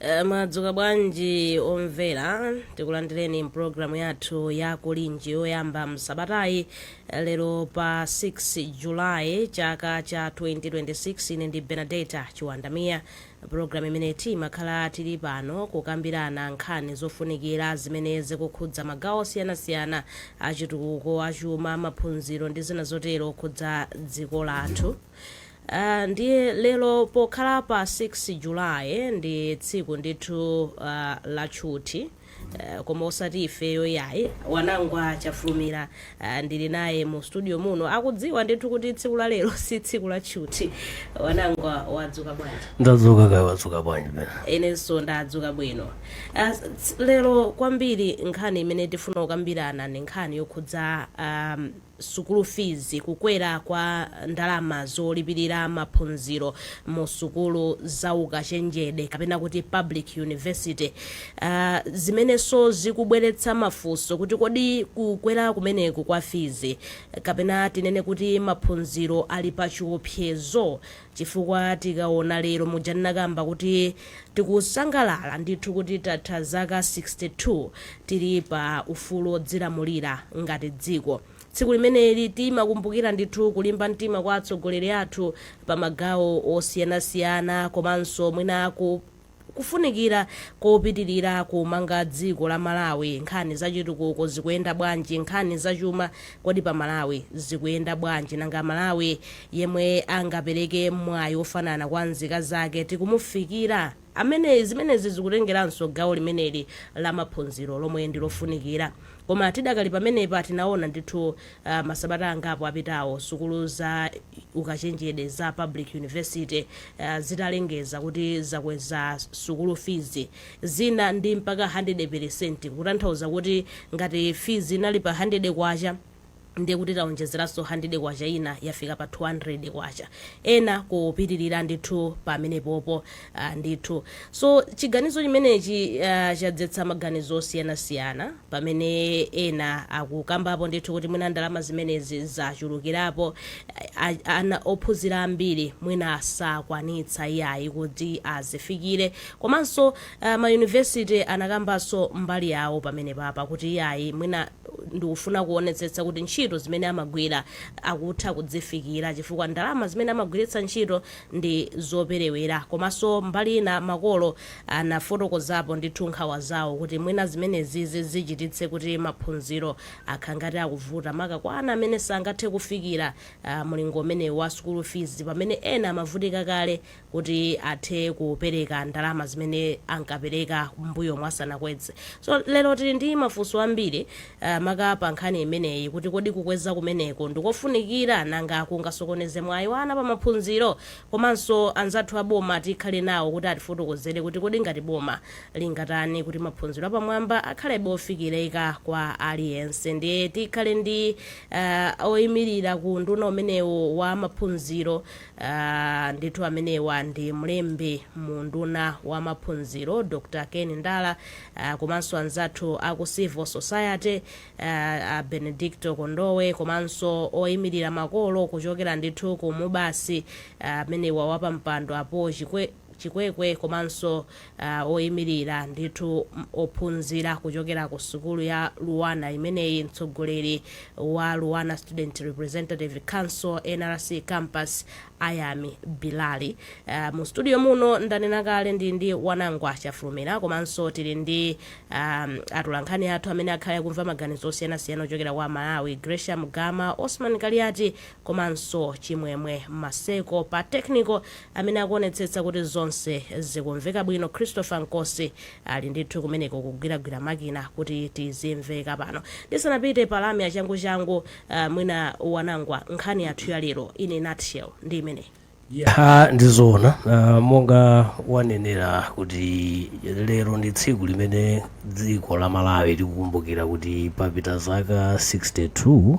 Eh, mwadzuka bwanji omvera tikulandireni mpulogalamu yathu ya kulinji yoyamba msabatayi eh, lero pa 6 julayi chaka cha 2026 ine ndi Benadetta Chiwanda Mia pulogalamu imene timakhala tili pano kukambirana nkhani zofunikira zimene zikukhudza magawo osiyanasiyana achitukuko achuma maphunziro ndi zina zotero zokhudza dziko lathu Aaa ndiye lero pokhala pa 6 July ndi tsiku ndithu aah la tchuthi aah koma osati ifeyo iyayi. Wanangwa Chafulumira aah ndili naye mu studio muno akudziwa ndithu kuti tsiku la lero si tsiku la tchuthi. Wanangwa wadzuka bwanji? Ndadzuka kaya wadzuka bwanji Bena? Inenso ndadzuka bwino. Aah lero kwambiri nkhani imene tifuna kukambirana ndi nkhani yokhudza aah sukulu fees, kukwera kwa ndalama zolipirira maphunziro mu sukulu za ukachenjede kapena kuti public university, aah zimenenso zikubweretsa mafunso kuti kodi kukwera kumeneku kwa fees kapena tinene kuti maphunziro ali pa chiopsezo? chifukwa tikaona lero muja ndinakamba kuti tikusangalala ndithu kuti tatha zaka 62 tili pa ufulu odzilamulira ngati dziko tsiku limeneli timakumbukira ndithu kulimba mtima kwa atsogoleri athu pa magawo osiyanasiyana komanso mwina ku Kufunikira kopitilira kumanga dziko la Malawi, nkhani za chitukuko zikuyenda bwanji, nkhani za chuma kodi pa Malawi zikuyenda bwanji, nanga Malawi yemwe angapeleke mwayi wofanana kwa nzika zake tikumufikira? Aa zimenezi zikutengeranso gawo limeneli la maphunziro lomwe ndi lofunikira. Koma tidakali pamenepa tinaona ndithu Masabata angapo apitawo, sukulu za ukachenjede za Public University zitalengeza kuti zakweza sukulu fizi, zina ndi mpaka handede peresenti, kutanthauza kuti ngati fizi inali pa handede kwacha, ndiye kuti taonjezeranso handede kwacha ina yafika pa 200 kwacha, ena kupitilira ndithu pamenepopo. a Ndithu. So, chiganizo chimenechi a chadzetsa maganizo osiyanasiyana pamene ena akukambapo ndithu kuti mwina ndalama zimenezi zachulukirapo, a, a, ana, ophunzira ambiri mwina sakwanitsa iyayi kuti azifikire. Komanso a, ma University anakambanso mbali yawo pamenepapa kuti iyayi mwina ndikufuna kuonetsetsa kuti ntchito zimene amagwira akutha kuzifikira chifukwa ndalama zimene amagwiritsa ntchito ndi zoperewera komaso mbali ina makolo anafotokozapo ndithu nkhawa zawo kuti mwina zimenezi zichititse kuti maphunziro akhangati akuvuta maka kwa ana amene sangathe kufikira mulingo umenewu wa school fees pamene ena amavutika kale kuti athe kupereka ndalama zimene ankapereka m'mbuyomu asanakweze so lero tili ndi mafunso ambiri a maka pa nkhani imeneyi kuti kodi kukweza kumeneko ndikofunikira nanga kungasokoneze mwayi wa ana pa maphunziro? Komanso anzathu a boma tikhale nawo kuti atifotokozere kuti kodi ngati boma lingatani kuti maphunziro apamwamba akhalebe ofikirika kwa aliyense ndiye tikhale ndi uh, oyimirira ku unduna umenewo wa maphunziro uh, ndithu amenewa ndi mlembi mu unduna wa maphunziro Dr. Ken Ndala a komanso anzathu a ku Civil Society, a a Benedicto Kondowe komanso oyimirira makolo kuchokera ndithu ku MUBAS amenewa wapampando a Paul Chikwe Chikwekwe komanso a oyimirira ndithu ophunzira kuchokera ku sukulu ya Luanar imeneyi, mtsogoleri wa Luanar Student Representative Council, NRC, Campus, Ayami Bilali. Uh, mu studio muno ndanena kale ndili ndi Wanangwa Chafulumira komanso tili ndi um, atolankhani athu amene akhale akumva maganizo osiyanasiyana ochokera kwa Amalawi, Gracian Gama, Osman Kaliati komanso Chimwemwe Maseko. Pa technical amene akuonetsetsa kuti zonse zikumveka bwino Christopher Nkosi ali ndithu kumeneko kugwiragwira makina kuti tizimveka pano. Ndisanapite pa lamya changuchangu Ah, mwina Wanangwa nkhani yathu ya lero in a nutshell ndi imeneyi ha ndizoona uh, monga wanenera kuti lero ndi tsiku limene dziko la Malawi likukumbukira kuti papita zaka 62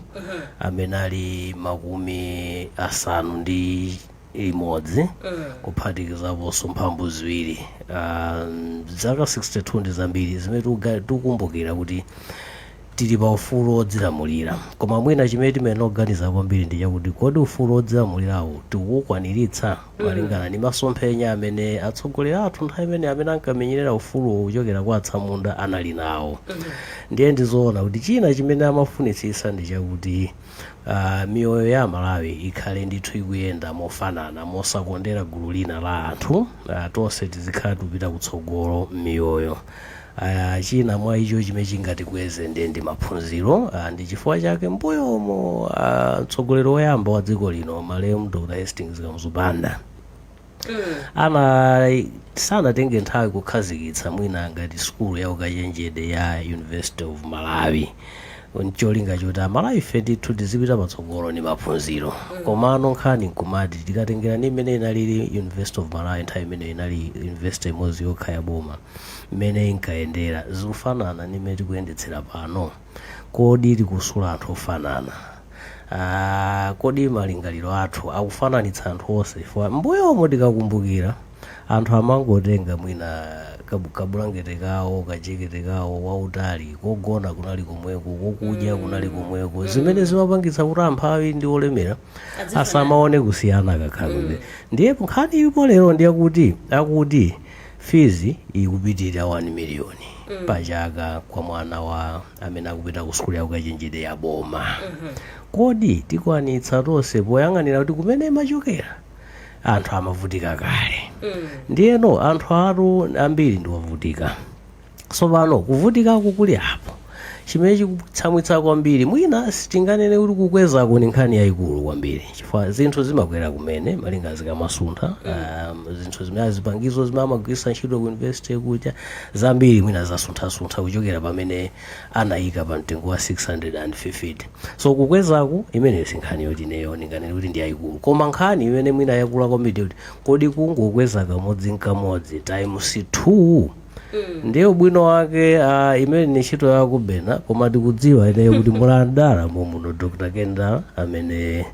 amene ali makumi asanu ndi limodzi kuphatikizaponso mphambu ziwiri uh, zaka 62 ndi zambiri zimene tikuga- tikukumbukira kuti Tili pa ufulu wodzilamulira. Koma mwina chimene timayenera kuganiza kwambiri ndi chakuti kodi ufulu wodzilamulirawu tikuukwaniritsa? Malingana ndi masomphenya amene atsogoleri athu nthawi imeneyo amene ankamenyerera ufuluwo kuchokera kwa atsamunda anali nawo, ndiye ndi zoona kuti china chimene amafunitsitsa ndi chakuti miyoyo ya Amalawi ikhale ndithu ikuyenda mofanana mosakondera gulu lina la anthu, tonse tizikhala tikupita kutsogolo m'miyoyo. Aya, china mwa icho chimene chingatikweze ndiye ndi maphunziro. Ah, ndi chifukwa chake mbuyomo ah, mtsogoleri woyamba wa dziko lino malemu Dr. Hastings Kamuzu Banda ana sanatenge nthawi kukhazikitsa mwina ngati sukulu ya ukachenjede ya University of Malawi ncholinga choti amalawife ndithu tizipita patsogolo ndi maphunziro komano nkhani nkumati tikatengera ndi mmene inalili university of malawi nthawi imene inali university imodzi yokha ya boma mmene inkayendera zikufanana ndi mmene tikuyendetsera pano kodi tikusula anthu ofanana Ah, kodi malingaliro athu akufananitsa anthu onse chifukwa mbuyomo tikakumbukira anthu amangotenga mwina kabu- kabulangete kawo kajekete kawo wautali kogona kunali komweko kokudya kunali komweko zimene zimapangitsa kuti amphawi ndi olemera asamaone kusiyana kakhalidwe ndiye nkhani ilipo lero ndiyakuti akuti fees ikupitirira 1 million pachaka kwa mwana wa amene akupita ku sukulu yaukachenjede ya boma kodi tikwanitsa tonse poyang'anira kuti kumene imachokera anthu amavutika kale ndiyeno anthu athu ambiri ndiwovutika tsopano kuvutikako kuli apo chimene chikutsamwitsa kwambiri mwina sitinganene kuti kukwezako ni nkhani yayikulu kwambiri chifukwa zinthu zimakwera kumene malinga zikamasuntha um, zinthu zimene zipangizo zimene amagwiritsa ntchito ku university kuja zambiri mwina zasunthasuntha kuchokera pamene anaika pa mtengo wa K650. So kukwezaku, imeneyo sinkhani yoti ineyo ndinganene kuti ndi yaikulu. Koma nkhani imene mwina yakula kwambiri ndi yoti, kodi kungokweza kamodzi n'kamodzi times 2? Ndiye ubwino wake ah, imene ndi ntchito ya kubena, koma tikudziwa ineyo kuti muli a Ndala momuno Dr. Kendall amene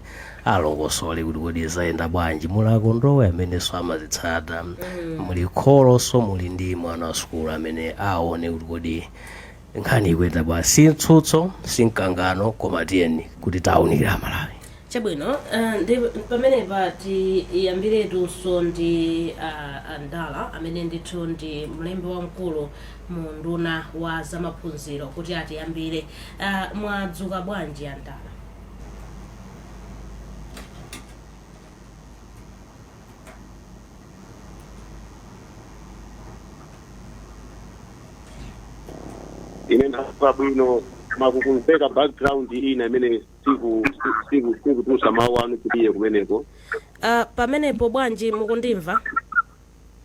alongosole kuti kodi zayenda bwanji muli a Kondowe amenenso amazitsata muli kholonso muli ndi mwana wa sukulu amene aone kuti kodi nkhani ikuyenda bwanji si mtsutso si mkangano koma tiyeni kuti tiwaunikire amalawi chabwino eh, ndi pamenepa tiyambiretu ndi ah, a Ndala amene ndithu ndi mlembi wamkulu mu unduna wa zamaphunziro kuti atiyambire Ah, mwadzuka bwanji a Ndala ine ndadzuka bwino koma kukumveka background ina imene siku- si- siku- sikutulutsa mawu anu kupiye kumeneko uh, pamenepo bwanji mukundimva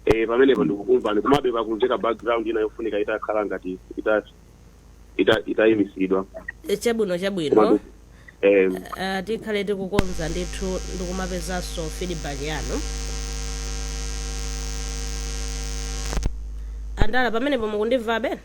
Eh, pamenepo ndikukumvani komabe pakumveka background ina yofunika itakhala ngati ita- ita- itayimisidwa Eh, chabwino chabwino Komatu, eh, uh, tikhale tikukonza ndithu ndikumapezanso feedback yanu a Ndala pamenepo mukundimvabe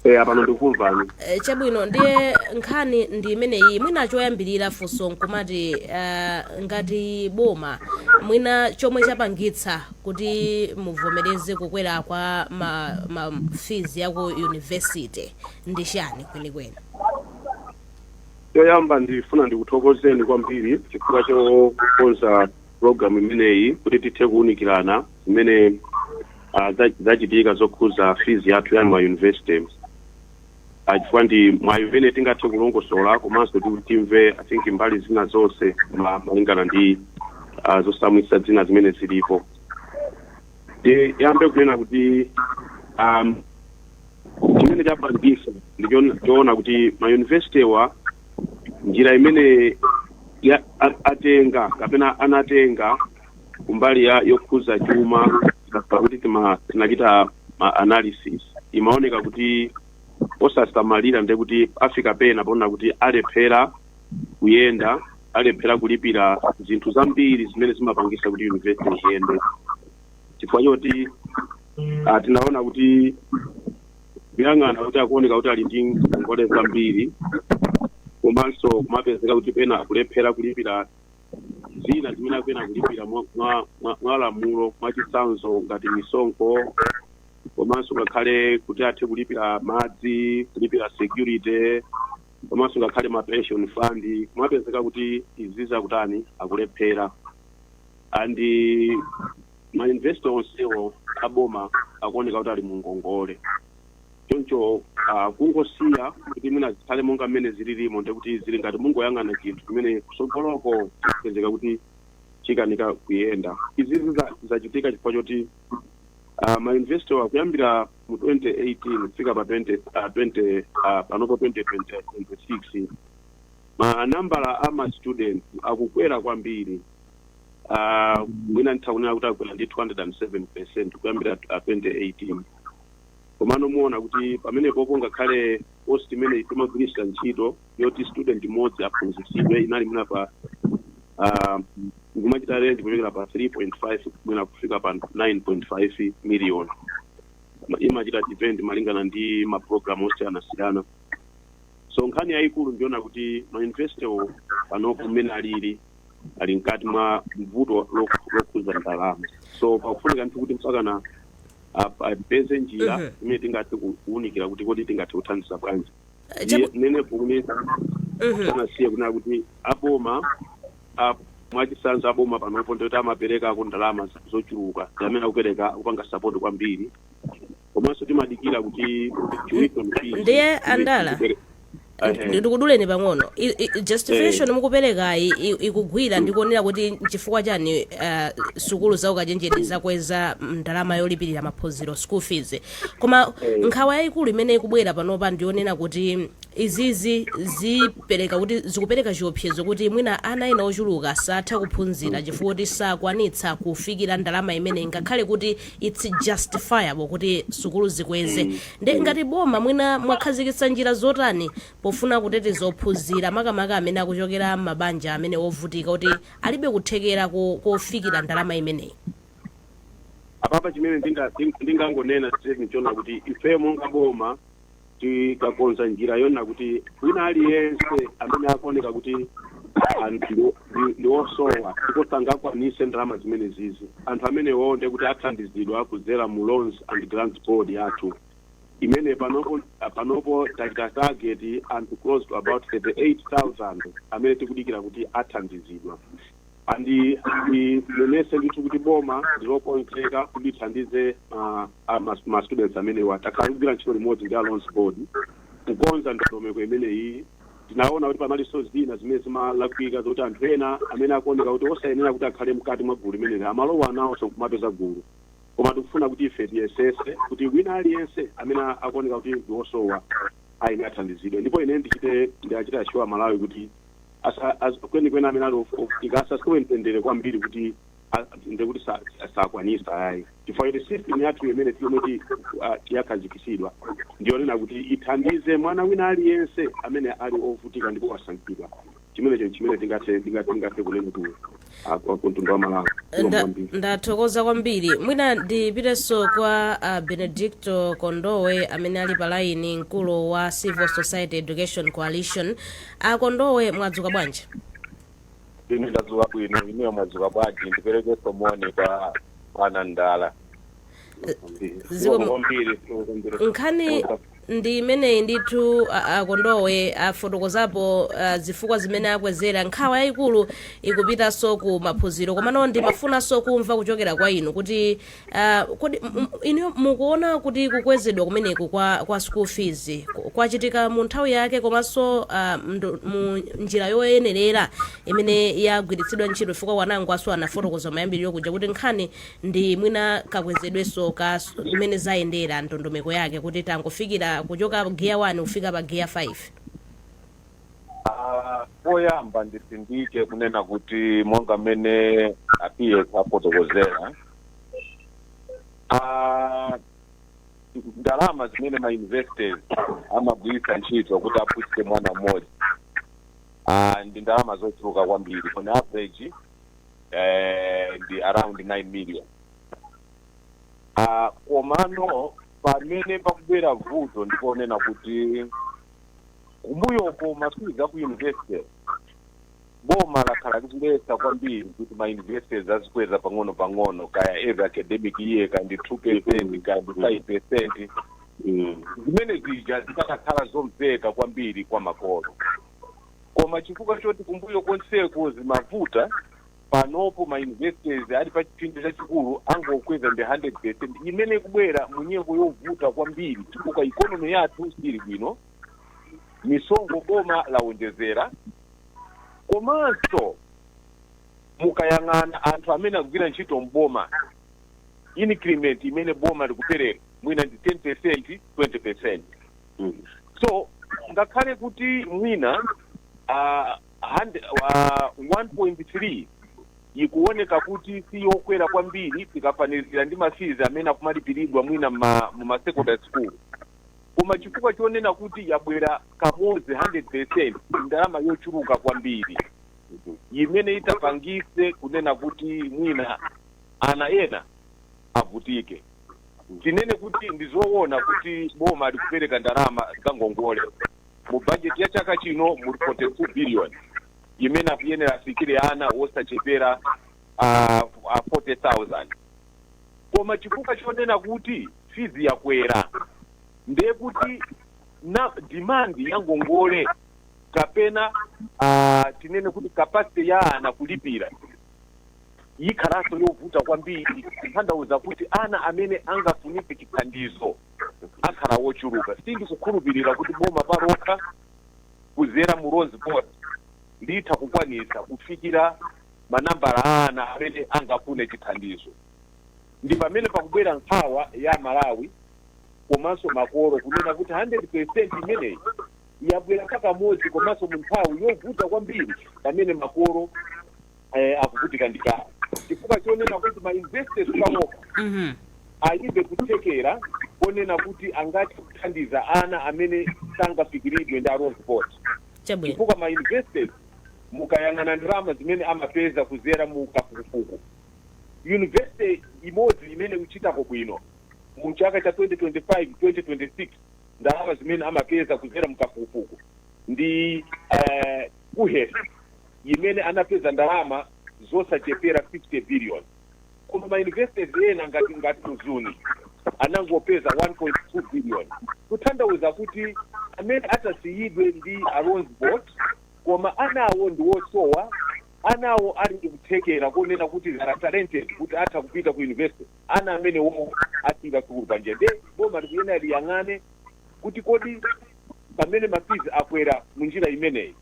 eh, apano ndikukumvani Eh, chabwino ndiye nkhani ndi imeneyi mwina choyambirira funso nkumati eh, ngati boma mwina chomwe chapangitsa kuti muvomereze kukwera kwa ma, ma fees ya ku university ndi chani kwenikweni choyamba ndifuna ndikuthokozeni kwambiri chifukwa chokonza program imeneyi kuti tithe kuwunikirana zimene ah, za- zachitika zokhuza fees yathu ya ma university Ah, chifukwa ndi mwayi umene tingathe kulongosola komanso kuti timve i think mbali zina zonse ma- malingana ndi ah, zotsamwitsa zina zimene zilipo Ndi- yambe kunena kuti um, chimene chapangisa ndi choona- choona kuti mayunivesitewa njira imene ya- a- atenga kapena anatenga kumbali ya yokhuza chuma pakuti tima- tinachita ma analysis imaoneka kuti osasamalira ndiye kuti afika pena poona kuti alephera kuyenda alephera kulipira zinthu zambiri zimene zimapangisa kuti university iyende chifukwa choti ah, tinaona kuti kuyang'ana kuti akuoneka kuti ali ndi ngongole zambiri komanso kumapezeka kuti pena akulephera kulipira zina zimene akuyenera kulipira mwa- mwa- mwa- mwa lamulo mwachitsanzo ngati misonkho komanso ngakhale kuti athe kulipira madzi kulipira security komanso ngakhale ma pension fund kumapezeka kuti izizi akutani akulephera and ma university onsewo aboma akuoneka kuti ali mu ngongole choncho ah, kungosiya kuti mwina zikhale monga mmene zililimo ndi kuti zili ngati mungoyang'ana chinthu chimene kutsogoloko chikupezeka kuti chikanika kuyenda izizi za- zachitika chifukwa choti ah, ma university kuyambira mu 2018 kufika pa 20 ah, 20 ah, panopo 2026 ma nambala a ma students akukwera kwambiri Ah, mwina nditha kunena kuti akwera ndi 207 percent kuyambira ah, 2018 komano muona kuti pamenepopo ngakhale cost imene timagwiritsa ntchito yoti student mmodzi aphunzitsidwe inali mwina pa ah, ikumachita range kuchokera pa 3.5 mwina kufika pa 9.5 million Ma- imachita depend malingana ndi maprogramu osiyanasiyana so nkhani yayikulu ndi kuona kuti mayunivesitewo panopo mmene alili ali mkati mwa mvuto lokhuza ndalama so pakufunika ndithu kuti mpakana ap- apeze njira Mhm. imene tingathe ku- kuwunikira kuti kodi tingathe kuthandiza bwanji Eh, chabu- ndinenepo kumene Mhm. ndisanasiye kunena kuti aboma a- mwachisanzo aboma panopo ndikuti amapereka ku ndalama za- zochuluka amene akupereka kupanga sapoti kwambiri komanso timadalira kuti tuition fees- ndiye andala Ehe. ndikuduleni pang'ono I- i- justification Eh. mukuperekayi i- ikugwira ndi kuonera kuti nchifukwa chani ah, sukulu za ukachenjede zakweza ndalama yolipirira maphunziro school fees koma Eh. nkhawa yayikulu imene ikubwera panopa ndionena kuti izizi zipereka kuti zikupereka chiopsezo kuti mwina ana ena ochuluka satha kuphunzira chifukwa kuti sakwanitsa kufikira ndalama imene ngakhale kuti its justifiable kuti sukulu zikweze nde ngati boma mwina mwakhazikitsa njira zotani pofuna kuteteza ophunzira makamaka amene akuchokera mmabanja amene wovutika kuti alibe kuthekera ko- kofikira ndalama imeneyi apapa chimene ndinga- nding- ndingangonena chete nchona kuti ifeyo monga boma takakonza njira yonena kuti wina aliyense amene akuoneka kuti anthu ndi- ndi- ndi osowa ndipo sangakwanise ndalama zimene zizi anthu amenewo nde kuti athandizidwa kudzera mu loans and grants board yathu imene panopo panopo tachita target anthu close to about 38000 amene tikudikira kuti athandizidwa and ndinenese ndithu kuti boma ndilokonzeka kuti lithandize ah, ah, ma- ma students amenewa takhala kugwira ntchito limodzi ndi loans board kukonza ndondomeko imeneyi tinaona kuti panalinso zina zimene zimalakwika zoti anthu ena amene akuoneka kuti osayenera kuti akhale mkati mwa gulu limeneli amalowa nawonso kumapeza gulu koma tikufuna kuti ife tiyesese kuti wina aliyense amene akuoneka kuti ndi osowa ayenera athandizidwe ndipo ine ndichite ndachita shuwa malawi kuti asa- as- kwenikweni amene ali of- ovutika asasowe mtendere kwambiri kuti a- nde kuti sa- sa- sakwanisa iyayi chifukwa kuti system yathu imene tiomwe ti- ah, yakhazikisidwa ndiyonena kuti ithandize mwana wina aliyense amene ali ovutika ndipo wasankhidwa chimenecho chimene tingathe tingathe kunena kuti kumtundu wa malawi Zikomo Nda- kwambiri. ndathokoza kwambiri mwina ndipitenso kwa uh, benedicto kondowe amene ali pa laini mkulu wa civil society education coalition a kondowe mwadzuka bwanji ine ndadzuka bwino inuyo mwadzuka bwanji ndiperekenso moni kwa a ndala Zikomo. zikomo kwambiri zikomo kwambiri nkhani Ndi imeneyi ndithu a a Kondowe afotokozapo zifukwa zimene akwezera. Nkhawa yayikulu ikupitaso ku maphunziro. Komano ndimafunaso kumva kuchokera kwa inu kuti kodi inuyo mukuona kuti kukwezedwa kumeneku kwa kwa school fees kwachitika mu nthawi yake komaso mu njira yoyenerera imene yagwiritsidwa ntchito chifukwa winangu naso anafotokoza kumayambiliro kuja kuti nkhani ndi mwina kakwezedwenso ka mmene zayendera ndondomeko yake kuti tangofikira kuchoka gear 1 kufika pa gear 5 Ah, poyamba ndisindike kunena kuti monga mmene a PS afotokozera ah, ndalama zimene ma universities amagwiritsa ntchito kuti aphunzitse mwana mmodzi ah, ndi ndalama zochuluka kwambiri on average eh, ndi around 9 million Ah, komano pamene pakubwera vuto ndiponena kuti kumbuyoko mafizi a ku universities boma lakhala likuletsa kwambiri kuti ma universities azikweza pang'ono pang'ono kaya every academic year kaya ndi 2 percent kaya ndi 5 percent Mm. zimene zija zikadakhala zomveka kwambiri kwa makolo koma chifukwa choti kumbuyo konseko zimavuta panopo ma universities ali pa chipsinjo chachikulu angokweza ndi 100% imene ikubwera mu nyengo yovuta kwambiri chifukwa ikonomi yathu siili bwino misonkho boma lawonjezera komanso mukayang'ana anthu amene akugwira ntchito mboma increment imene boma likupereka mwina ndi 10% 20% so ngakhale kuti mwina ah, hand- ah, 1.3 ikuoneka kuti si yokwera kwambiri tikafanizira ndi mafizi amene akumalipiridwa mwina ma- mu ma secondary school koma chifukwa chonena kuti yabwera kamodzi 100 percent ndalama yochuluka kwambiri imene itapangise kunena kuti mwina ana ena avutike Tinene kuti ndi zoona kuti boma likupereka ndalama za ngongole. Mu bajeti ya chaka chino muli 42 biliyoni imene ikuyenera ifikire ana wosachepera a, a 40,000 koma chifukwa chonena kuti fizi yakwera ndiye kuti demand ya ngongole kapena uh, tinene kuti capacity ya ana kulipira yikhalanso yovuta kwambiri kutanthauza kuti ana amene angafunike chithandizo akhala ochuluka. Sindikukhulupirira kuti boma palokha kuzera mu Loans Board litha kukwanitsa kufikira manambala a ana amene angafune chithandizo. Ndi pamene pakubwera nkhawa ya Amalawi komanso makolo kunena kuti 100% imeneyi yabwera pakamodzi komanso mu nthawi yovuta kwambiri pamene makolo eh, akuvutika ndi chani chifukwa chonena kuti ma universities panopa Mhm. alibe kuthekera konena kuti angathe kuthandiza ana amene sangafikiridwe ndi Loans Board Chabwino. chifukwa ma universities mukayang'ana ndalama zimene amapeza kuzera mu kafukufuku university imodzi imene ikuchitako bwino mu chaka cha 2025 2026 ndalama zimene amapeza kuzera mu kafukufuku ndi eh, KUHeS imene anapeza ndalama zosachepera 50 billion koma ma universities ena ngati ngati mzuni anangopeza 1.2 billion kutanthauza kuti amene atasiyidwe ndi Loans Board koma anawo ndi wosowa anawo ali ndi kuthekera konena kuti they are talented kuti atha kupita ku university ana amenewowo asiira sukulu panjira nde boma likuyenera liyang'ane kuti kodi pamene ma fees akwera mu njira imeneyi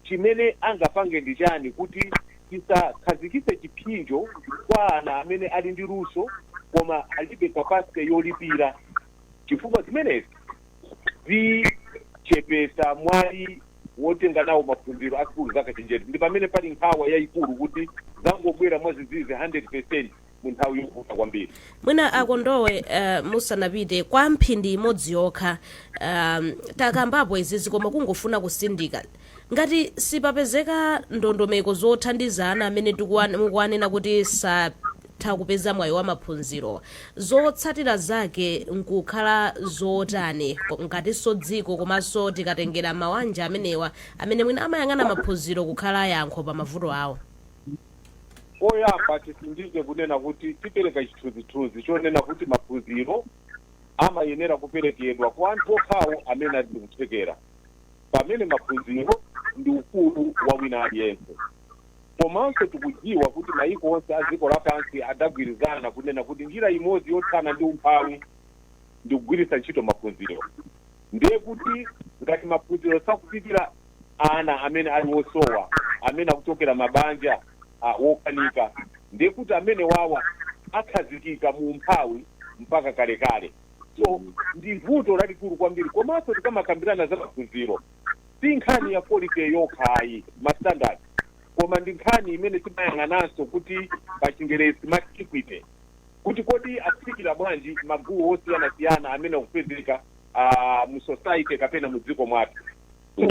chimene angapange ndi chani kuti tisakhazikitse chipsinjo kwa ana amene ali ndi luso koma alibe capacity yolipira chifukwa zimenezi zichepesa mwayi wotenga nawo maphunziro a sukulu zakachenjede ndi pamene pali nkhawa yaikulu kuti zangobwera mwadzidzidzi 100% mu nthawi yovuta kwambiri mwina a Kondowe uh, musanapite kwa mphindi imodzi yokha um, takambapo izizi koma kungofuna kutsindika ngati sipapezeka ndondomeko zothandiza ana amene tikuwa- mukuwanena kuti satha kupeza mwayi wa maphunziro zotsatira zake nkukhala zotani ko- ngatinso dziko komanso tikatengera mawanja amenewa amene mwina amayang'ana maphunziro kukhala yankho pa mavuto awo Poyamba titsindike kunena kuti tipereka chithunzithunzi chonena kuti maphunziro amayenera kuperekedwa kwa anthu okhawo amene ali ndikuthekera pamene maphunziro ndi ufulu wa wina aliyense. Komanso tikudziwa kuti mayiko onse a dziko lapansi adagwirizana kunena kuti njira imodzi yothana ndi umphawi ndikugwiritsa ntchito maphunziro. Ndiye kuti ngati maphunziro sakufikira ana amene ali wosowa amene akuchokera mabanja wokanika ndiye kuti amenewawa akhazikika mu umphawi mpaka kalekale so ndi vuto lalikulu kwambiri komanso tikamakambirana za maphunziro si nkhani ya quality yokha ayi ma standards koma ndi nkhani imene timayang'ananso kuti pa chingerezi timati equity kuti kodi akufikira bwanji magulu osiyanasiyana amene akupezeka uh, mu society kapena mu dziko mwathu so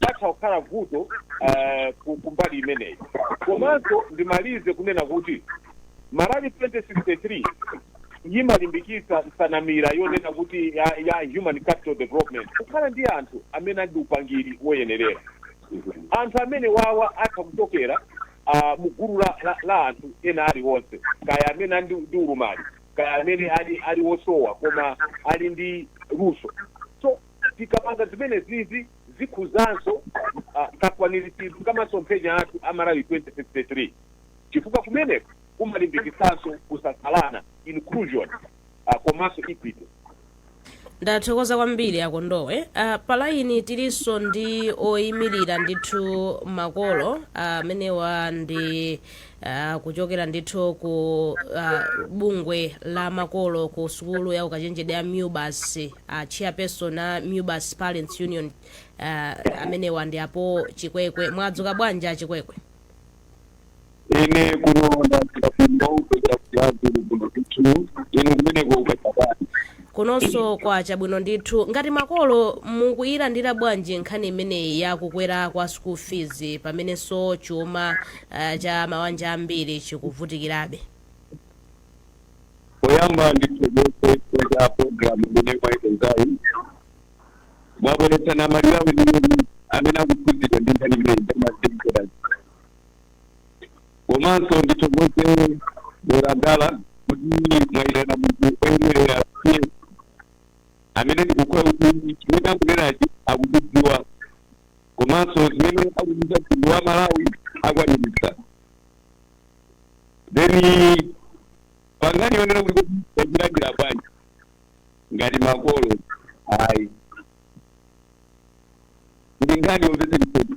patha kukhala vuto uh, ku- kumbali imeneyi komanso ndimalize kunena kuti malawi 2063 yimalimbikitsa nsanamira yonena kuti ya, ya human capital development kukhala ndi anthu amene ali ndi upangiri woyenerera anthu amenewawa atha kuchokera uh, mu gulu la, la, la anthu ena aliwonse kaya amene ali ndi ndi ulumali kaya amene ali ali wosowa koma ali ndi luso so tikapanga zimenezizi zikukhudzanso uh, kakwaniritsidwe ka masomphenya athu a malawi 2063 chifukwa kumeneko kumalimbikitsanso kusasalana inclusion uh, komanso equity ndathokoza kwambiri akondowe uh, palaini tilinso ndi oyimirira ndithu makolo amenewa uh, ndi uh, kuchokera ndithu ku uh, bungwe la makolo ku sukulu ya ukachenjede ya mubas uh, chairperson a mubas parents union uh, amenewa ndi a paul chikwekwe mwadzuka bwanji achikwekwe ine kuno ndafika kuno kuchokera ku brazil kuno ndithu inu kumeneko ukachapani kunonso kwa chabwino ndithu ngati makolo mukuyilandira bwanji nkhani imeneyi ya kukwera kwa school fees pamenenso chuma uh, cha mawanja ambiri chikuvutikirabe poyamba ndithokoze kwa program imene mwayikonzayi mwabweretsa namalilawo imene amene akuphunzira ndi nkhani imeneyi ndamazimkera komanso ndithokoze mwerandala kuti mwayitana munthu oyenerera amene ndikukhulupira kuti chimene akunenachi akuchidziwa komanso zimene akuchita mtundu wa malawi akwaniritsa then pankhani yonena kuti tachilandira bwanji ngati makolo ayi ndi nkhani yomvetsa chisoni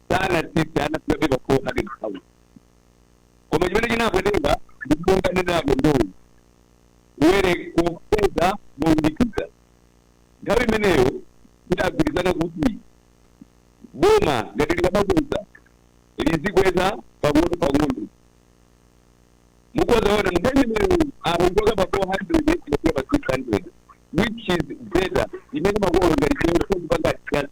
sanatsitse ana sibabye ba 400,000 koma chimene chinapweteka ndi monga anenerapo akondowe kukwera kukweza mowirikiza nthawi imeneyo tidagwirizana kuti boma ngati likamakweza lizikweza pang'ono pang'ono mukadzaona mnthawi imeneyo akuchoka pa 400 kufika pa 600 which is better imene makolo ngati chiyonso kupanga adjust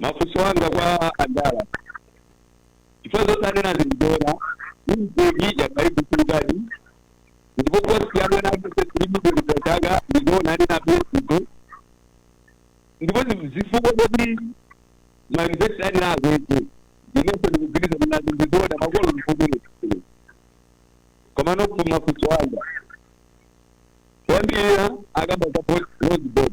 mafunso anga kwa andala chifukwa zoti anena zindibera pa peji ya pa Facebook ndipo posti yanu yanakusesilimikulitataga ndizoona anena pesipo ndipo ndi zifukwa zoti mauniversity anena akwete inenso ndikugwirizana nazo ndizoona makolo ndikukumene koma nokho mafunso anga oyambirira akamba za Loans Board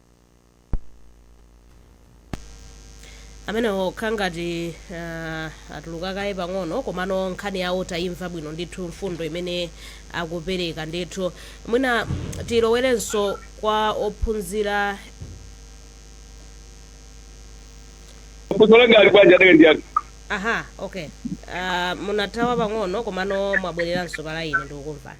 amenewo akhala ngati ah, atuluka kaye pang'ono komano nkhani yawo tayimva bwino ndithu mfundo imene akupereka ndithu mwina tilowerenso kwa ophunzira funso lake ali bwanji adake ndi yake aha okay uh, munathawa pang'ono komano mwabwereranso palaini ndikukumvani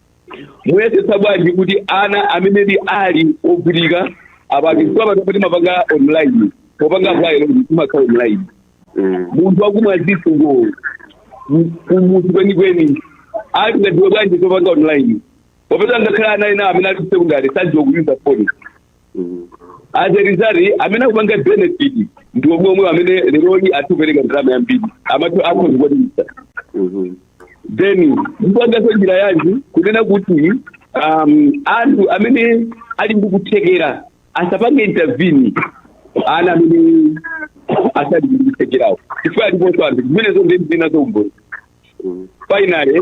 muyesetsa bwanji kuti ana amene ndi ali ovutika apake chifukwa pano kuti mapanga online popanga apply timakhala online Mm. munthu akumwa zithu ngwa kumudzi kwenikweni angadziwe bwanji popanga online popeza ngakhale ana ena amene ali ku secondary sadziwa kuyuza foni Mm. as a result amene akupanga benefit ndi omwe omwe amene lerolino atha kupereka ndalama yambiri amati akhoza kukwanisa Mhm. then mupanganso njira yanji kunena kuti um, anthu amene ali ndi kuthekera asapange intervene ana amene asali ndi kuthekerawo chifukwa aliponso anthu zimenezo ndili nazo umboni finally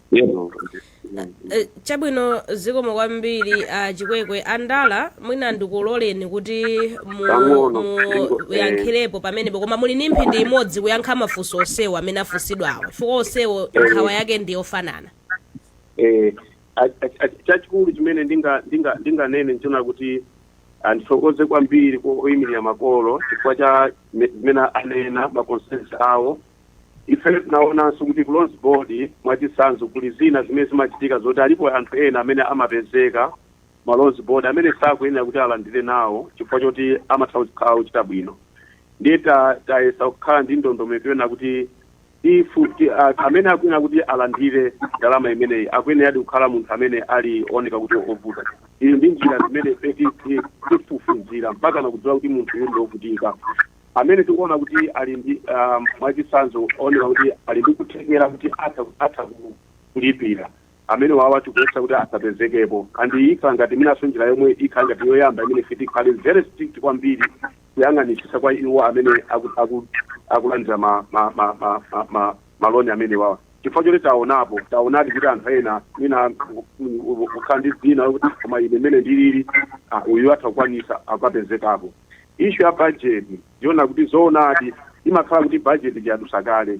Yebo. Eh, chabwino zikomo kwambiri a chikwekwe andala mwina ndikuloleni kuti mu- Pang'ono, mu- ndingo- eh. muyankhirepo pamenepo koma muli ni mphindi imodzi kuyankha mafunso onsewo amene afunsidwawo chifukwa onsewo Eh. nkhawa yake ndi yofanana Eh, a- a- a- chachikulu chimene ndinga- ndinga- ndinganene nchonena kuti ndithokoze kwambiri kwa oyimirira makolo chifukwa cha me- zimene anena maconcerns awo Ifeyo tinaonanso kuti ku Loans Board mwachitsanzo kuli zina zimene zimachitika zoti alipo anthu ena amene amapezeka mu Loans Board amene sakuyenera kuti alandire nawo chifukwa choti amatha kukhala ochita bwino ndiye ta, tayesa kukhala ndi ndondomeko yonena kuti if ti, a, amene akuyenera kuti alandire ndalama imeneyi akuyeneradi kukhala munthu amene ali oneka kuti ovuta tili ndi njira zimene ife ti- ti- tifufuzira mpaka nakudziwa kuti munthu uyu ndi ovutika amene tikuona kuti ali ndi um, mwachitsanzo ooneka kuti ali ndi kuthekera kuti atha atha ku- kulipira amene wawa tikuletsa kuti asapezekepo and ikhala ngati inanso njira yomwe ikhala ngati yoyamba imene ife tikhale very strict kwambiri kuyang'anitsitsa kwa iwo amene aku- aku- akulandira ma- ma- ma- ma- ma- ma- maloni amene wawa chifukwa choti taonapo taonadi kuti anthu ena mwina kukhala ndi dzina lokuti koma ine mmene ndilili ah, uyu atha kukwanisa akapezekapo ishu ya bajeti ndiona kuti zoonadi imakhala kuti bajeti tiyadusa kale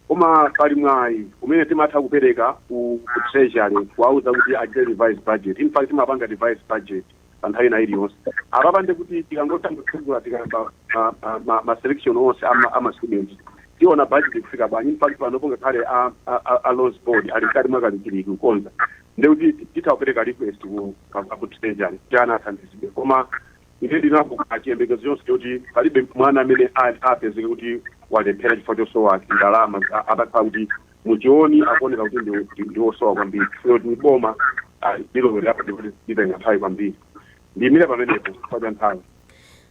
koma pali mwayi umene timatha kupereka ku ku treasury kuwauza kuti achite revise budget in fact timapanga revise budget pa nthawi ina iliyonse apapa nde kuti tikangotha kutsegula tikamba ma- ma- ma- ma selection onse ama- ama students tiona budget kufika bwanji in fact panopo ngakhale a- a- a- a loans board ali mkati mwakalikiliki kukonza nde kuti titha kupereka request ku treasury kuti ana athandizidwe koma ine ndili nacho chiyembekezo chonse choti palibe mwana amene a- apezeke kuti walephera chifukwa chosowa ndalama a- atakhala kuti mutchiyoni akuoneka kuti ndi, ndi, ndi osowa kwambiri chifukwa kuti boma ah, lilowelerapo ndipo litenga mbali kwambiri. Ndiyimire pamenepo chifukwa cha nthawi.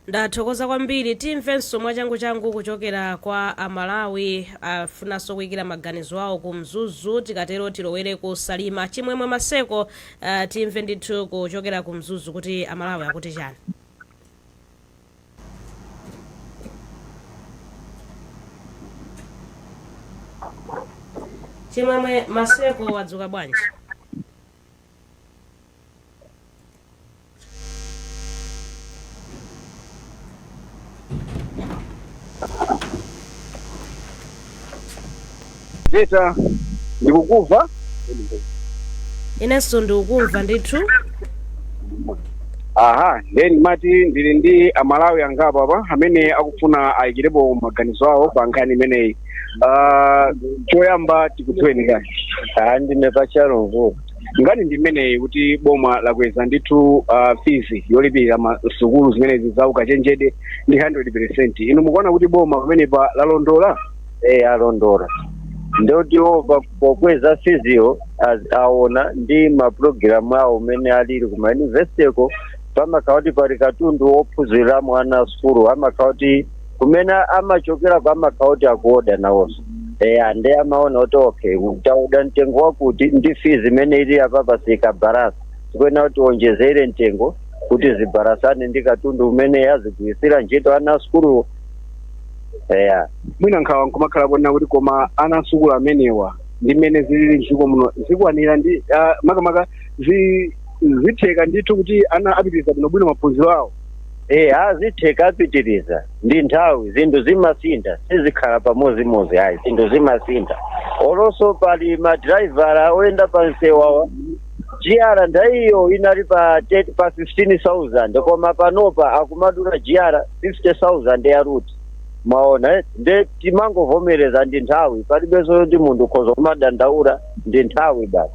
Ndathokoza kwambiri. Timvenso mwachanguchangu kuchokera kwa Amalawi afunanso kuyikira maganizo awo ku Mzuzu. Tikatero tilowere ku Salima. Chimwemwe Maseko, ah, timve ndithu kuchokera ku Mzuzu kuti Amalawi akuti chani. chimwemwe maseko wadzuka bwanji Beta, ndikukumva. inenso ndikukumva ndithu Aha, then mati ndili ndi amalawi angapo apa amene akufuna ayikirepo maganizo awo pa nkhani imeneyi. Ah, choyamba tikudziweni kani. Ah, ndine pachalongo. Nkhani ndi imeneyi kuti boma lakweza ndithu ah, fizi yolipirira msukulu zimenezi za ukachenjede ndi 100%. Inu mukuona kuti boma pamenepa lalondola? e alondola ndoti iwo pa- pokweza fiziyo az- aona ndi mapulogalamu awo mmene alili ku mayunivesitiko pamakhala kuti pali katundu wophunziriramo ana asukulu amakhala kuti kumene amachokerako amakhala kuti akuoda nawonso ande amaona kuti okay taoda mtengo wakuti ndi fizi imene ili apapa sikubalansa tikuyenera kuti tiwonjezere mtengo kuti zibalansane ndi katundu umene azigwiritsira ntchito ana asukuluwo eya mwina nkhawa nkumakhala kuonera kuti koma ana asukulu amenewa ndi mmene zilili mdziko muno zikwanira ndi ah, makamaka zi- zitheka ndithu kuti ana apitiriza bwinobwino maphunziro awo e aa zitheka apitiriza ndi nthawi zinthu zimasintha sizikhala pamodzimodzi ayi zinthu zimasintha olonso pali madraivara oyenda pa msewawa GR ndayiyo inali pa 15000 koma panopa akumadulitsa GR 50000 ya route mwaona eh? nde timangovomereza ndi nthawi palibenso zoti munthu ukhoza kumadandaula ndi nthawi basi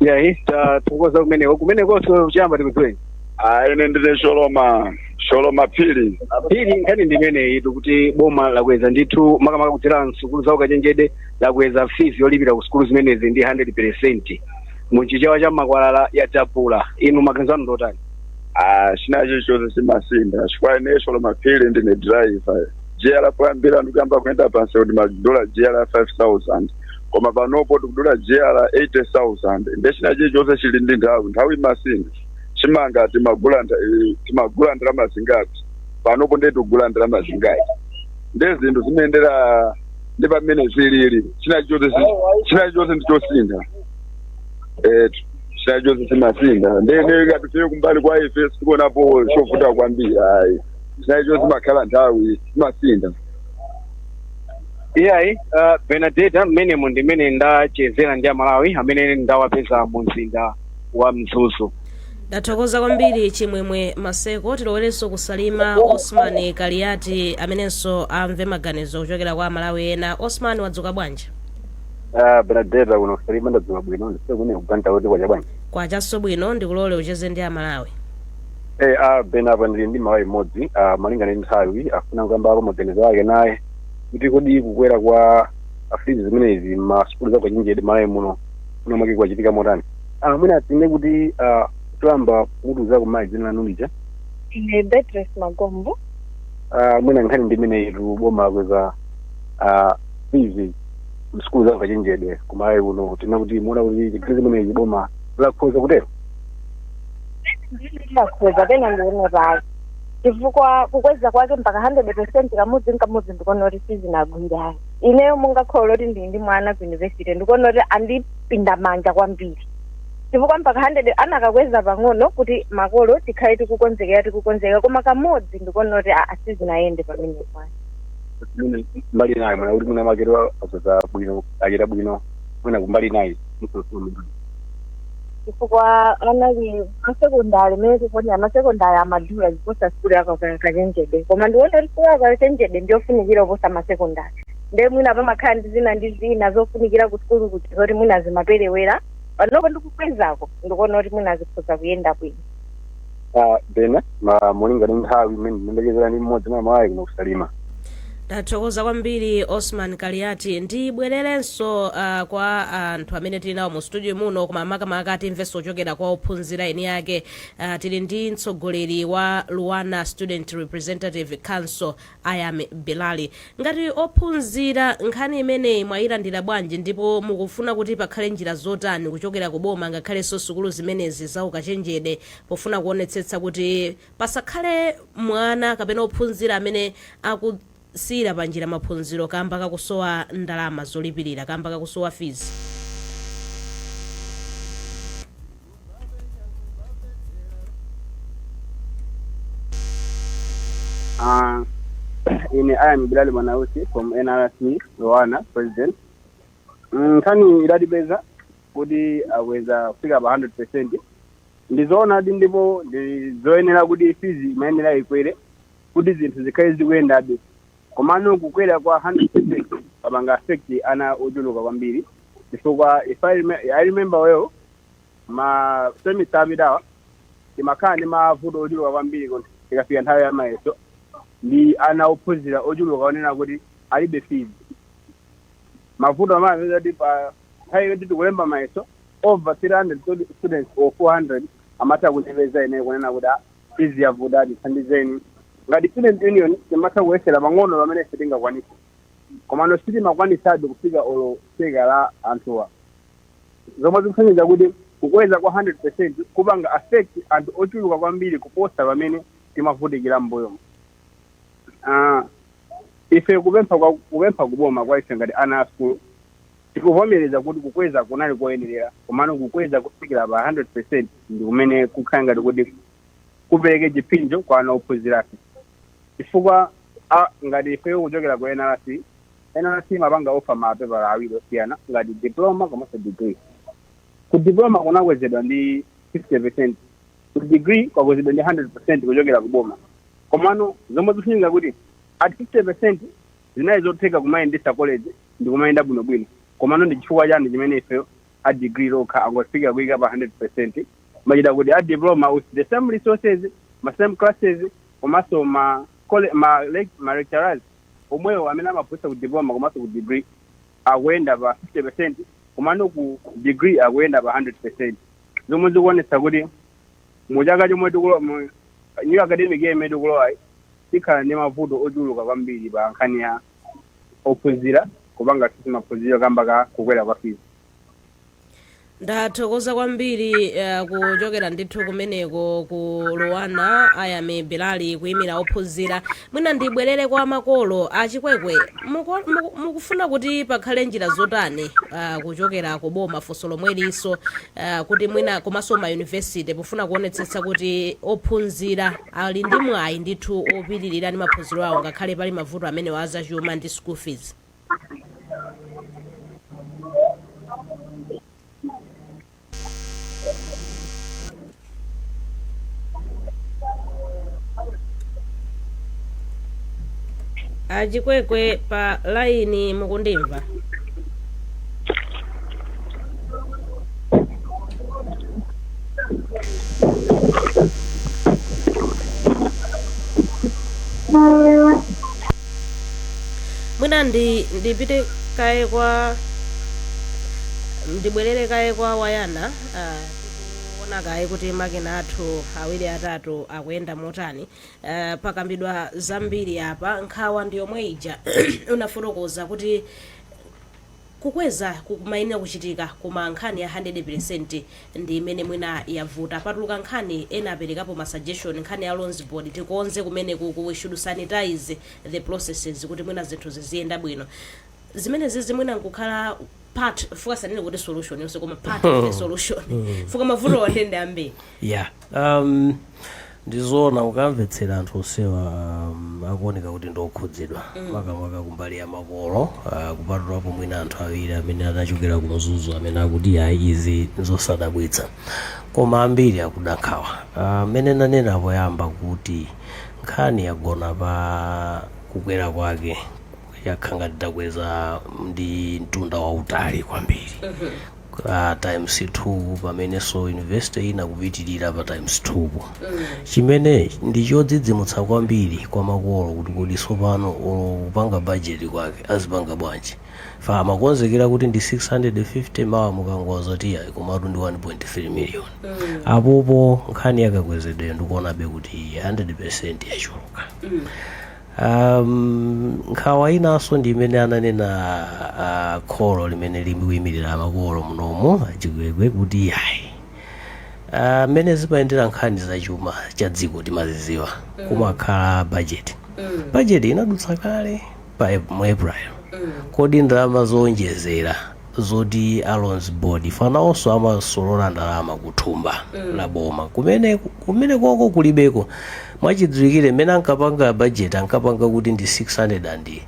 iyayi tathokoza kumeneko kumenekonso choyamba tikudziweni Ah, ine ndine Sholoma, Sholoma Phiri. Phiri nkhani ndi imeneyitu kuti boma lakweza ndithu makamaka kudzera msukulu za ukachenjede lakweza fees yolipira ku sukulu zimenezi ndi 100 percent mu chichewa cha makwalala yadabula inu maganizo anu ngotani Ah, china chilichonse chimasintha chifukwa ine Sholoma Phiri ndine driver GR poyambira ndikuyamba kuyenda pamsewu timadula GR 5000 koma panopa tikudula GR ya 80000 nde china chilichonse chili ndi nthawi nthawi imasintha chimanga timagula nda- eh, timagula ndalama zingati panopa nde tikugula ndalama zingati nde zinthu zimayendera ndi mmene zilili china chi- china chilichonse ndi chosintha eh china chilichonse chimasintha ndiye ngati ife kumbali kwa ife sitikuonapo chovuta kwambiri ayi china chilichonse imakhala nthawi chimasintha iyayi uh, benadeta mmenemo ndi mmene ndachezera ndi amalawi amene ndawapeza mu mzinda wa mzuzu Ndathokoza kwambiri Chimwemwe Maseko. Tilowerenso ku Salima. Osman Kaliati amenenso amve maganizo kuchokera kwa Amalawi ena. Osman wadzuka bwanji? Ah, Benadeta kuno ku Salima ndadzuka bwino ndi kaya kumeneko kaya kwacha bwanji. Kwachanso bwino ndikulole ucheze ndi Amalawi. Eh, ah, Bena apa ndili ndi mmalawi mmodzi ah, malinga ndi nthawi afuna kukambapo maganizo ake naye kuti kodi kukwera kwa fizi zimenezi m'masukulu za ukachenjede mmalawi muno kuona kwake kwachitika motani. Ah, mwina tinene kuti ah, choyamba mutiuzeko mayi dzina lanu lija ine beatrice magombo Ah, mwina nkhani ndi imeneyitu boma lakweza ah, fizi msukulu za ukachenjede kumalawi kuno tinene kuti mukuona kuti nkhani imeneyi boma lakhoza kutero silinakhoze mmene ndionera chifukwa kukweza kwake mpaka 100 percent kamodzi nkamodzi ndikuona kuti sizinagwire ineyo monga kholo kuti ndili ndi mwana ku university ndikuona kuti andi pinda manja kwambiri chifukwa mpaka 100 akanakweza pang'ono kuti makolo tikhale tikukonzekera tikukonzekera koma kamodzi ndikuona kuti a- a sizinayende pamenepo Mwina mbali inayi mwaona kuti mwina akhoza bwino achita bwino mwina kumbali inayi chifukwa ana ali masekondari mmene tikuonera masekondari amadula kuposa sukulu yaukachenjede koma ndiona kuti sukulu yaukachenjede ndiyofunikira kuposa masekondari nde mwina pamakhala ndi zina ndi zina zofunikira ku sukulu kuti zoti mwina zimaperewera panopo ndikukwezako ndikuona kuti mwina zikhoza kuyenda bwino Ah, Bena Mulinga ndi nthawi imene ndimacheza ndi mmodzi mwa mayi kuno kusalima ndathokoza kwambiri osman kaliati ndibwererenso uh, kwa anthu amene tili nawo mu studio muno koma makamaka timvenso zochokera kwa ophunzira eni ake uh, tili ndi mtsogoleri wa luana student representative council I am Bilali. Ngati ophunzira, nkhani imeneyi mwayilandira bwanji ndipo mukufuna kuti pakhale njira zotani kuchokera ku boma ngakhalenso sukulu zimenezi za ukachenjede pofuna kuonetsetsa kuti pasakhale mwana kapena ophunzira amene akusiyira panjira maphunziro kamba kakusowa ndalama zolipirira kamba kakusowa fees? Uh, ine I am Bilal Manausi from NRC Luana president. Mm, nkhani idatipeza kuti akweza kufika pa 100% ndizoonadi ndipo ndizoyenera kuti fees imayenera ikwere kuti zinthu zikhale zikuyendabe komano kukwera kwa 100% kupanga affect ana ochuluka kwambiri chifukwa if I, rem I remember well ma semester apitawa timakhala ndi mavuto ochuluka kwambiri kuti tikafika nthawi ya mayeso ndi ana ophunzira ochuluka onena kuti alibe fees mavuto amene amapeza kuti pa nthawi yoti tikulemba mayeso over 300 studi- students or 400 amatha kundipeza ine kunena kuti "Ah, fees yavuta tithandizeni ngati student union timatha kuyesera pang'ono pamene ife tingakwanise komano sitimakwanisabe kufika olo theka la anthuwa zomwe zikusonyeza kuti kukweza kwa 100% kupanga affect anthu ochuluka kwambiri kuposa pamene timavutikira m'mbuyomu. Ah, ife kupempha kwa- kupempha kuboma kwa ife ngati ana a sukulu tikuvomereza kuti kukweza kunali koyenerera komano kukweza kufikira pa 100% ndi kumene kukhala ngati kuti kupereke chipsinjo kwa ana ophunzirafe chifukwa a- ngati ifeyo kuchokera ku nrc nrc imapanga offer ma pepala awiri osiyana ngati diploma komanso degree ku diploma kunakwezedwa ndi 50% ku degree kwakwezedwa ndi 100% kuchokera ku boma komano zomwe zikufunika kuti at 50% zinali zotheka kumayendetsa college ndi kumayenda bwinobwino komano ndi chifukwa chani chimene ifeyo a degree lokha angofika kuyika pa 100% machita kuti a diploma with the same resources ma same classes komanso ma, cole- ma, lec- ma lecturers omwewo amene amaphunzitsa ku diploma komanso ku degree akuyenda pa 50% komano ku degree akuyenda pa 100% zomwe zikuonetsa kuti mu chaka chomwe tikulowa mu new academic year imene tikulowayi tikhala ndi mavuto ochuluka kwambiri pa nkhani ya ophunzira kupanga access maphunziro kamba ka kukwera kwa fees ndathokoza kwambiri uh, kuchokera ndithu kumeneko ku LUANAR ayami bilali kuyimira ophunzira mwina ndibwerere kwa makolo a Chikwekwe muko- muku- mukufuna kuti pakhale njira zotani uh, kuchokera ku boma funso lomwelinso uh, kuti mwina komanso mayunivesite pofuna kuonetsetsa kuti ophunzira ali ndi mwayi ndithu opitirira ndi maphunziro awo ngakhale pali mavuto amenewa azachuma ndi school fees a Chikwekwe pa laini mukundimva mwina ndi ndipite kaye kwa ndibwerere kaye kwa a Wayana ah, tikuona kaye kuti makina athu awiri atatu akuyenda motani Ah, pakambidwa zambiri apa nkhawa ndi yomwe ija unafotokoza kuti Kukweza kumayenera kuchitika koma nkhani ya handede pelesenti ndi imene mwina yavuta. Patuluka nkhani, ena aperekapo ma suggestion, nkhani ya loans board tikonze kumenekuku, we should sanitize the processes kuti mwina zinthu ziziyenda bwino. Zimenezizi mwina nkukhala part, chifukwa sitinene kuti solution yonse koma part of the solution chifukwa mavutowa ndiye ndi ambiri. Yeah. Um, ndizoona ukamvetsera anthu onsewa um, akuoneka kuti ndiokhudzidwa makamaka kumbali ya makolo uh, kupatulapo mwina anthu awiri amene anachokera ku mzuzu amene akuti ayi izi zosadabwitsa koma ambiri akuda nkhawa Ah, mmene ndanenera poyamba kuti nkhani yagona pa kukwera kwake yakhala ngati takweza ndi mtunda wautali kwambiri a times 2 pamenenso university ina kupitirira pa times 2 po chimene ndi chodzidzimutsa kwambiri kwa makolo kuti kodi tsopano olo kupanga bajeti kwake azipanga bwanji fa amakonzekera kuti ndi 650 mawa mukungowauza kuti ayi komatu ndi 1.3 million apopo nkhani yakakwezedwe ndikuonabe kuti 100% yachuluka Um, nkhawa inanso ndi imene ananena uh, kholo limene likuyimirira makolo munomu achikwekwe kuti ayi Ah, mmene zimayendera nkhani za chuma cha dziko timaziziwa kumakhala bajeti bajeti inadutsa kale pa Ap- mu april kodi ndalama zowonjezera zoti a loans board ife nawonso amasolola ndalama ku thumba la boma kumene kumene koko kulibeko mwachidziwikire mmene ankapanga budget ankapanga kuti ndi 630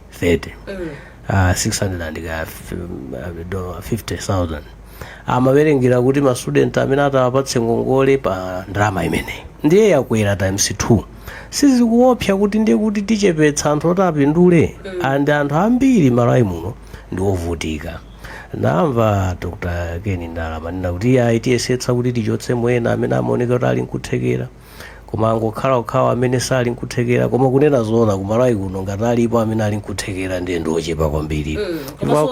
ah, 600 ka f- uh, 50000 amawerengera kuti ma student amene atawapatse ngongole pa ndalama imeneyi ndiye yakwera times 2 sizikuopsa kuti ndiye kuti tichepetsa anthu oti apindule and anthu ambiri malawi muno ndi ovutika namva dr ken ndala amanena kuti ayi tiyesetsa kuti tichotse mwina amene amaoneka kuti ali nkuthekera koma angokhala okhawo amene sali nkuthekera koma kunena zoona kumalawi kuno ngati alipo amene ali nkuthekera ndiye ndi ochepa kwambiri Koma-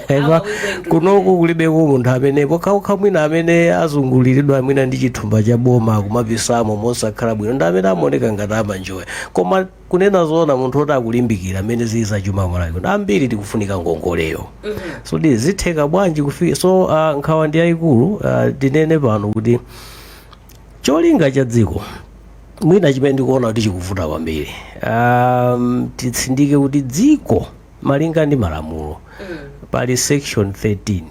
Eva, kunoku kulibeko munthu amene pokhapokha mwina amene azunguliridwa mwina ndi chithumba cha boma kumapisamo mosakhala bwino ndi amene amaoneka ngati amanjoya koma kunena zoona munthu oti akulimbikira mmene zili za chuma ku malawi kuno ambiri tikufunika ngongoleyo so ndiye zitheka bwanji kufika so uh, nkhawa ndi yayikulu uh, tinene pano kuti cholinga cha dziko mwina chimene ndikuona kuti chikuvuta kwambiri um, titsindike kuti dziko Malinga ndi malamulo pali section 13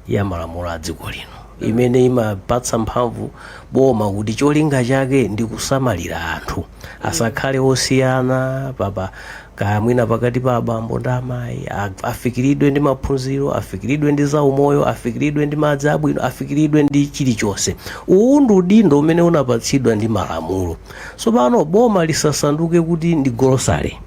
ya malamulo a dziko lino imene imapatsa mphamvu boma kuti cholinga chake ndi kusamalira anthu asakhale osiyana pa- pa- kaya mwina pakati pa abambo ndi amayi a- afikiridwe ndi maphunziro afikiridwe ndi zaumoyo afikiridwe ndi madzi abwino afikiridwe ndi chilichonse uwu ndi udindo umene unapatsidwa ndi malamulo tsopano boma lisasanduke kuti ndi golosale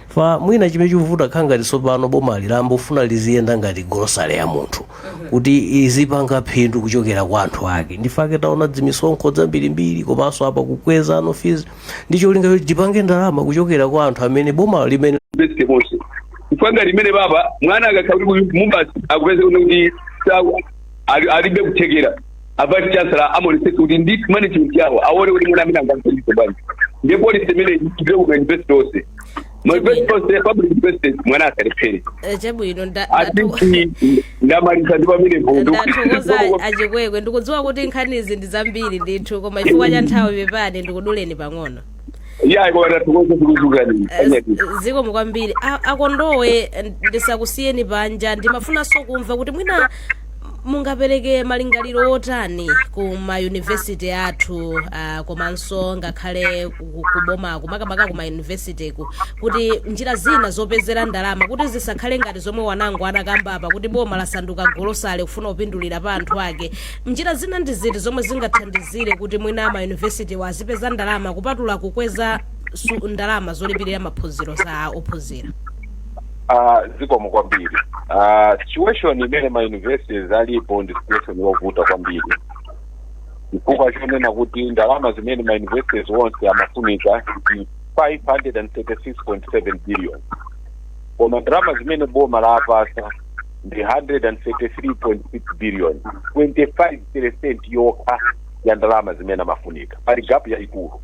fa mwina chimene chikuvuta kukhala ngati tsopano boma likumafuna liziyenda ngati golosale ya munthu kuti lizipanga phindu kuchokera kwa anthu ake ndi chifukwa chake taona dzimisonkho dzambirimbiri komanso apa kukweza ma fees ndi cholinga choti tipange ndalama kuchokera kwa anthu amene boma limene best bonse mfanga limene baba mwana akakhala kuti mubasi akupeza kuti kuti sawa ali- alibe kuthekera a vice chancellor awonetsetse kuti ndi management yawo aone kuti mwana ameneyu angamthandize bwanji ndiye policy imene ikhale kuma university onse ma university onse public universities mwana asalephere Eh, chabwino nda- ndatu- atiti ndamaliza ndi pamene vudu ndathokoza achikwekwe ndikudziwa kuti nkhanizi ndi zambiri ndithu koma chifukwa cha nthawi pepani ndikuduleni pang'ono yayi koma tathokoze kuluzukani Eh, zikomo kwambiri a Kondowe eh, ndisakusiyeni panja ndimafunanso kumva kuti mwina mungapereke malingaliro otani ku mayunivesiti athu ah, komanso ngakhale ku- ku- kubomaku makamaka ku mayunivesitiku kuti njira zina zopezera ndalama kuti zisakhale ngati zomwe wanango anakamba apa kuti boma lasanduka golosale kufuna kupindulira pa anthu ake Njira zina ndi ziti zomwe zingathandizire kuti mwina ma university wa azipeza ndalama kupatula kukweza su- ndalama zolipirira maphunziro za ophunzira? Ah, zikomo kwambiri Ah, situation imene ma universities alipo ndi situation yovuta kwambiri chifukwa chonena kuti ndalama zimene ma universities onse amafunika ndi 536.7 billion koma ndalama zimene boma lapasa ndi 133.6 billion 25 percent yokha ya ndalama zimene amafunika pali gapu yayikulu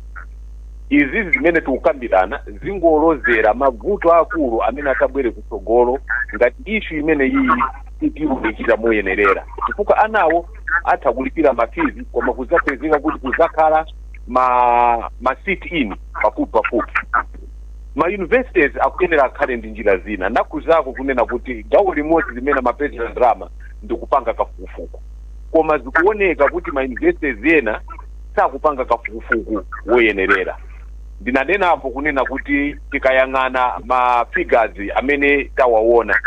izi zimene tikukambirana zingolozera mavuto akulu amene atabwere kutsogolo ngati ishu imene iyi sitiunikira moyenerera chifukwa anawo atha kulipira mafizi koma kuzapezeka kuti kuzakhala ma ma sit in pafupi pafupi ma universities akuyenera akhale ndi njira zina ndakhudzako kunena kuti gawo limodzi limene amapezera ndalama ndikupanga kafukufuku koma zikuoneka kuti ma universities ena sakupanga kafukufuku woyenerera ndinanenapo kunena kuti tikayang'ana ma figures amene tawaona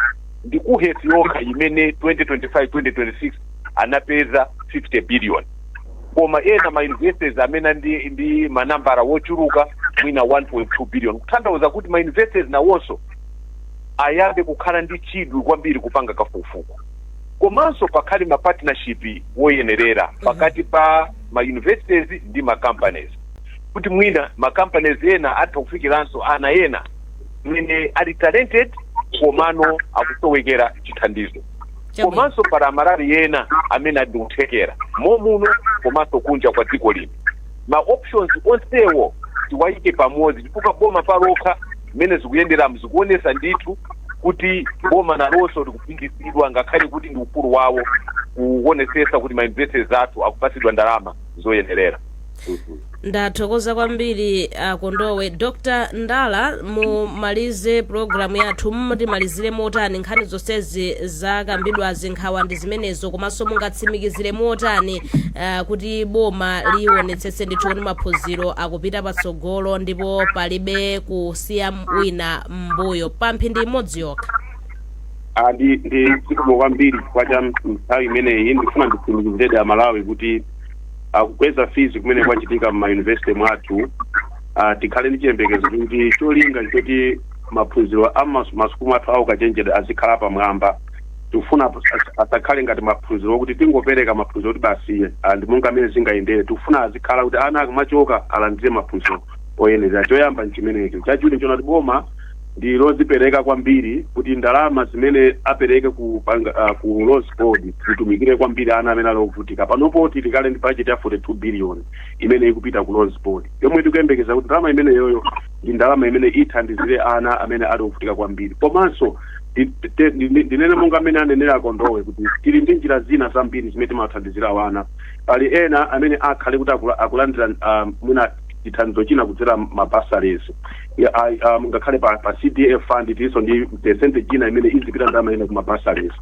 ndi KUHeS yokha imene 2025 2026 anapeza 50 billion koma ena ma universities amene ndi, ndi manambala wochuluka mwina 1.2 billion kutanthauza kuti ma universities nawonso ayambe kukhala ndi chidwi kwambiri kupanga kafukufuku komanso pakhale ma partnership woyenerera pakati pa ma universities ndi ma companies kuti mwina ma companies ena atha kufikiranso ana ena amene ali talented komano akusowekera chithandizo Chabwino. komanso pali amalawi ena amene ali ndi kuthekera momuno komanso kunja kwa dziko lino ma options onsewo tiwayike pamodzi chifukwa boma palokha mmene zikuyenderamu zikuonesa ndithu kuti boma nalonso likupindidwa ngakhale kuti ndi udindo wawo kuonesesa kuti ma universities athu akupatsidwa ndalama zoyenerera ndathokoza kwambiri a Kondowe Dr Ndala mumalize pulogalamu yathu mutimalizire motani nkhani zonsezi zakambidwazi nkhawa ndi zimenezo komanso mungatsimikizire motani uh, kuti boma lionetsetse ndithu kuti maphunziro akupita patsogolo ndipo palibe kusiya wina mbuyo pa mphindi imodzi yokha Ah, ndi ndi zikomo kwambiri chifukwa cha nthawi imeneyi ndifuna nditsimikiziredi amalawi kuti uh, kukweza fees kumene kwachitika mma university mwathu uh, tikhale ndi chiyembekezo kuti cholinga nchoti maphunziro a mas- masukulu athu a ukachenjede azikhala apamwamba tikufuna as- asakhale ngati maphunziro okuti tingopereka maphunziro kuti basiye ah, ndi monga mmene zingayendere tikufuna azikhala kuti ana akamachoka alandire maphunziro oyenera choyamba nchimenecho chachiwiri nchoona kuti boma ndi lodzipereka kwambiri kuti ndalama zimene apereke ku banga, uh, ku Loans Board zitumikire kwambiri ana amene ali ovutika panopo tili kale ndi budget ya 42 billion imene ikupita ku Loans Board yomwe tikuyembekeza kuti ndalama imeneyoyo ndi ndalama imene ithandizire ana amene ali ovutika kwambiri komanso ndi- te- ndi- ndi- ndinene monga mmene anenera a Kondowe kuti tili ndi njira zina zambiri zimene timathandizira wana pali ena amene akhale kuti akula- akulandira um, mwina chithandizo china kudzera ma bursaries ya- ai- um, ngakhale pa, pa cdf fund tilinso ndi percentage ina imene izipita ndalama ina kuma bursaries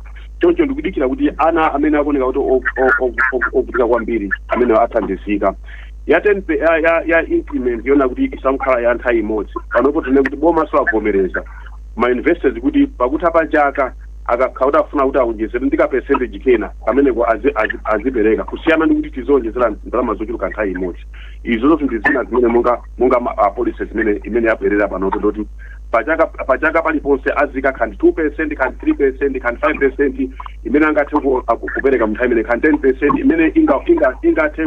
choncho ndikudikira kuti ana amene akuoneka kuti o- o- o- o- ovutika kwambiri amene athandizika ya 10 pe- ya, ya, ya increment yoona kuti isamkhala ya nthawi imodzi panopo tinene kuti boma lawavomereza ma universities kuti pakutha pa chaka akakhala kuti afuna kuti awonjezere ndi ka percentage kena kameneko azi- azi- azipereka kusiyana ndi kuti tizionjezera ndalama zochuluka nthawi imodzi izo zonse ndi zina zimene monga monga ma- ah, policies imene imene yabwerera panopo ndi yoti pachaka pachaka paliponse azika kaya ndi 2 percent kaya ndi 3 percent kaya ndi 5 percent imene angathe ku- ah, ku- kupereka mnthawi imene kaya ndi 10 percent imene inga- inga- ingathe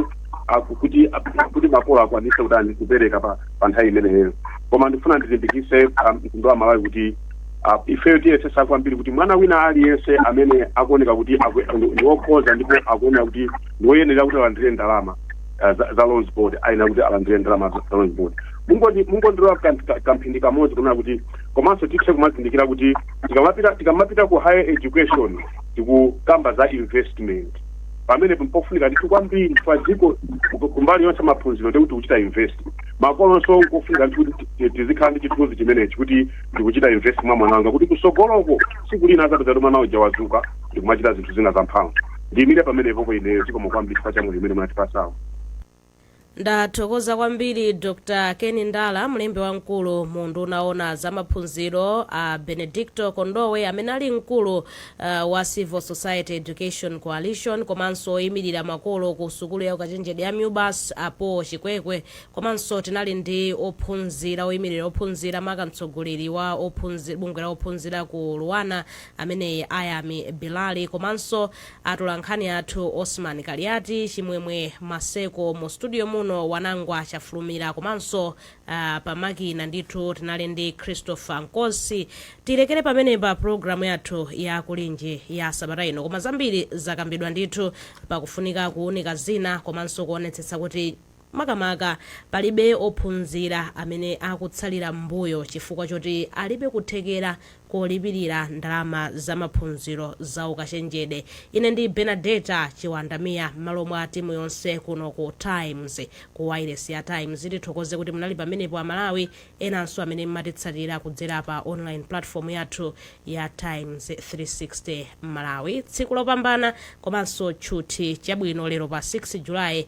ah, ku- kuti ah, kuti makolo akwanise kutani kupereka pa pa nthawi imeneyo koma ndifuna ndilimbikise ah, mtundu wa malawi kuti ah, ifeyo tiyesesa kwambiri kuti mwana wina aliyense amene akuoneka kuti akwe- ndi wokhoza ndipo akuoneka kuti ndiwoyenera kuti alandire ndalama ah, za- za loans board ayenera kuti alandire ndalama za za loans board Mungoti- mungondilola kam- ka- kamphindi kamodzi kunena kuti komanso tithe kumazindikira kuti tikamapita tikamapita ku higher education tikukamba za investment pamene pofunika ndithu kwambiri kwa dziko ku- kumbali yonse maphunziro ndikuti tikuchita invest makolonso nkofunika ndithu kuti ti- tizikhala ndi chithunzi chimenechi kuti ndikuchita invest mwa mwana wanga kuti kusogoloko siku lina azapeza kuti mwana uja wazuka ndikumachita zinthu zina zamphamvu ndiyimire pamenepo ku ineyo zikomo kwambiri chifukwa cha mwayi umene munatipasawo ndathokoza kwambiri dr ken ndala mlembi wamkulu mu unduna owona za maphunziro a benedicto kondowe amene ali mkulu uh, wa civil society education coalition komanso oyimirira makolo ku sukulu ya ukachenjede ya mubas apo chikwekwe komanso tinali ndi ophunzira oyimirira ophunzira maka mtsogoleri wa ophunzi- bungwe la ophunzira ku luanar ameneyi Ayami Bilali komanso atolankhani athu Osman Kaliati, Chimwemwe Maseko mu studio muno, Wanangwa Chafulumira komanso pa makina ndithu tinali ndi Christopher Nkosi. Tilekere pamenepa program yathu ya Kulinji ya sabata ino koma zambiri zakambidwa ndithu pa kufunika kuunika zina komanso kuonetsetsa kuti. Makamaka, palibe ophunzira amene akutsalira m'mbuyo chifukwa choti alibe kuthekera kolipirira ndalama za maphunziro za ukachenjede. Ine ndi Bernadetta Chiwandamia m'malo mwa timu yonse kuno ku Times, ku wailesi ya Times, tithokoze kuti munali pamenepo a Malawi enanso amene m'matitsatira kudzera pa online platform yathu ya Times 360 Malawi. Tsiku lopambana komanso tchuthi chabwino lero pa 6 July.